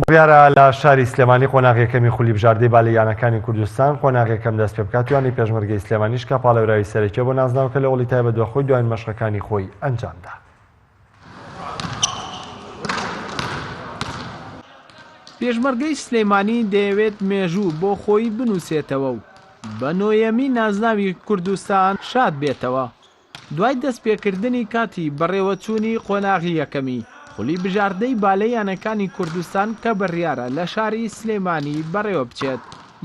بڕیارە لە شاری سلێمانی قۆناغی یەکەمی خولی بژاردەی بالە یانەکانی کوردستان قۆناغی یەکەم دەست پێبکات و یانەی پێشمەرگەی سلێمانیش کە پاڵێوراوی سەرەکیە بۆ نازناوەکە لە هۆڵی تایبەت بە خۆی دواین مەشقەکانی خۆی ئەنجامدا. پێشمەرگەی سلێمانی دەیەوێت مێژوو بۆ خۆی بنووسێتەوە و بە نۆیەمی نازناوی کوردستان شاد بێتەوە. دوای دەستپێکردنی کاتی بەڕێوەچوونی قۆناغی یەکەمی خولی بژاردەی با لە یانەکانی کوردستان کە بڕیارە لە شاری سلێمانی بەڕێوەبچێت،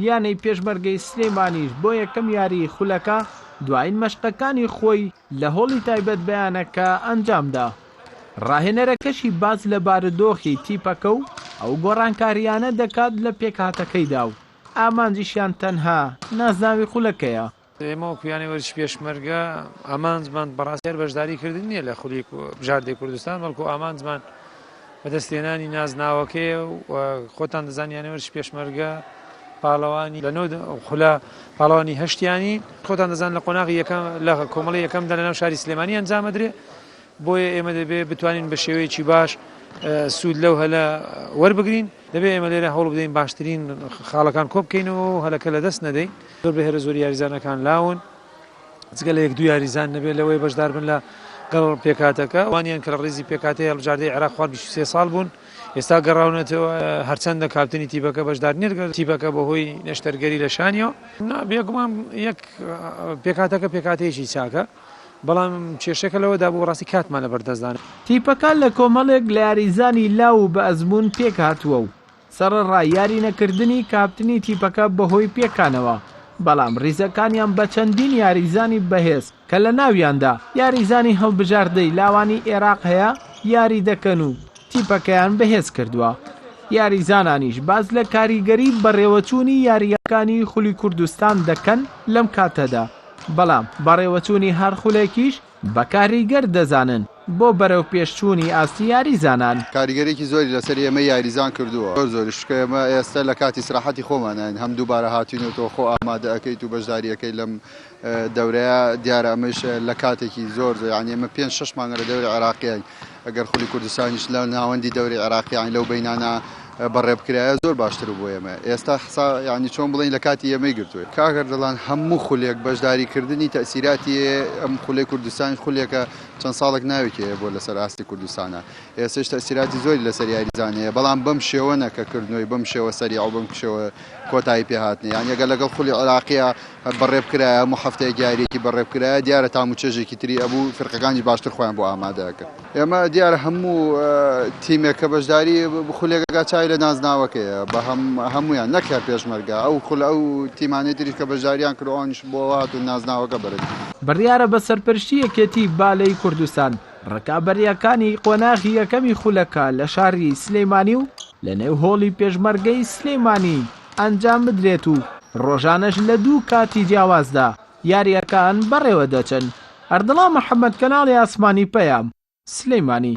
یانەی پێشمەرگەی سلێمانیش بۆ یەکەم یاریی خولەکە دوایین مەشقەکانی خۆی لە هۆڵی تایبەت بە یانەکە ئەنجامدا. راهێنەرەکەشی باس لە بارودۆخی تیپەکە و ئەو گۆڕانکارییانە دەکات لە پێکهاتەکەیدا و ئامانجیشیان تەنها نازناوی خولەکەیە. ئێمە وەکو یانەی وەرزشی پێشمەرگە ئامانجمان بەڕاستی هەر بەشداریکردن نییە لە خولی بژاردەی کوردستان بەڵکو ئامانجمان بەدەستێنانی نازناوەکەیە و خۆتان دەزان یانەی وەرزشی پێشمەرگە پاڵەوانی لە نۆ خولە پاڵەوانی هەشتیانی خۆتان دەزان لە قۆناغی یەکەم لە کۆمەڵی یەکەمدا لەناو شاری سلێمانی ئەنجامەدرێ بۆیە ئێمە دەبێ بتوانین بە شێوەیەکی باش سوود لەو هەلە وەربگرین دەبێ ئێمە لێرە هەوڵ بدەین باشترین خاڵەکان کۆبکەینەوە هەلەکە لە دەست نەدەین زۆر بەهێرە زۆری یاریزانەکان لاون جگە لە یەک دوو یاریزان نەبێت لەوەی بەشداربن لە گەڵ پێکاتەکە وانیان کە لە ڕێزی پێکاتی هەڵبژاردەی عێراق خوار سێ ساڵ بوون ئێستا گەڕاونەتەوە هەرچەندە کاپتنی تیبەکە بەشدار نێرگەر تیبەکە بە هۆی نەشتەرگەری لە شانیەوە بێگومان یەک پێکاتەکە پێکاتەیەکی چاکە بەڵام کێشەکە لەوە دابوو ڕاستی کاتمان لە بەردەستدان تیپەکە لە کۆمەڵێک لە یاریزانی لاو و بە ئەزموون پێکهاتووە و سەڕەڕای یارینەکردنی کاپتنی تیپەکە بەهۆی پێکانەوە، بەڵام ریزەکانیان بە چەندین یاریزانی بەهێز کە لە ناویاندا یاریزانی هەڵبژاردەی لاوانی ئێراق هەیە یاری دەکەن و تیپەکەیان بەهێز کردووە. یاریزانانیش باس لە کاریگەری بەڕێوەچوونی یارییەکانی خولی کوردستان دەکەن لەم کاتەدا، بەڵام بەڕێوەچوونی هەر خولێکیش، بە کاریگەر دەزانن بۆ بەرەوپێشچوونی ئاستی یاریزانان. کاریگەریی زۆری لەسەر ئێمەی یاریزان کردووە، زۆر زۆریش، چونکە ئێمە ئێستە لە کاتی ئیسراحەتی خۆماناین، هەم دووبارە هاتووین و تۆ خۆ ئامادە ئەکەیت و بەشداری ئەکەیت لەم دەورەیە، دیارە ئەمەیش لە کاتێکی زۆر زۆر، یانی ئێمە پێنج شەش مانگە لە دەوری عێراقیاین. ئەگەر خولی کوردستانیش لە ناوەندی دەوری عێراق یانی لەو بەینانە بەڕێ بکرایە زۆر باشتر بوو بۆ ئێمە ئێستا حسا یانی چۆن بڵین لە کاتی ئێمەی گرتوێت کاگەر دەڵان هەموو خولێک بەشداری کردنی تەسیراتی ئەم خولی کوردستانی خولێکە چەند ساڵێک ناوێکی بۆ لەسەر ئاستی کوردستانە ئێسش تەسیراتی زۆری لەسەر یاریزانەیە بەڵام بەم شێوەنە کە کردنەوەی بەم شێوە سەری ئەو بم کشەوە کۆتایی پێهاتنی یان یەگە لەگەڵ خولی عراقیە بەڕێ بکرایە هەموو هەفتەیەک یاریەکی بەڕێ بکرایە دیارە تام و چێژێکی تری ئەبوو فرقەکانیش باشتر خۆیان بۆ ئامادە ئەکرد ئێمە دیارە هەموو تیمێک کە بەشداری خولێکەکە چای لە نازناوەکەیە بە هەم هەمویان نەک هەر پێشمەرگە ئەو خول ئەو تیمانی تریش کە بەشداریان کروانش بۆ هات و نازناوەکە بەرز بڕیارە بە سەرپەرشتی یەکێتی بالەی کوردستان ڕکابەریەکانی قۆناغی یەکەمی خولەکە لە شاری سلیمانی و لە نێو هۆڵی پێشمەرگەی سلیمانی ئەنجام بدرێت و ڕۆژانەش لە دوو کاتی جیاوازدا یارییەکان بەڕێوە دەچن. ئەردڵا محەمەد کەناڵی ئاسمانی پەیام، سلێمانی.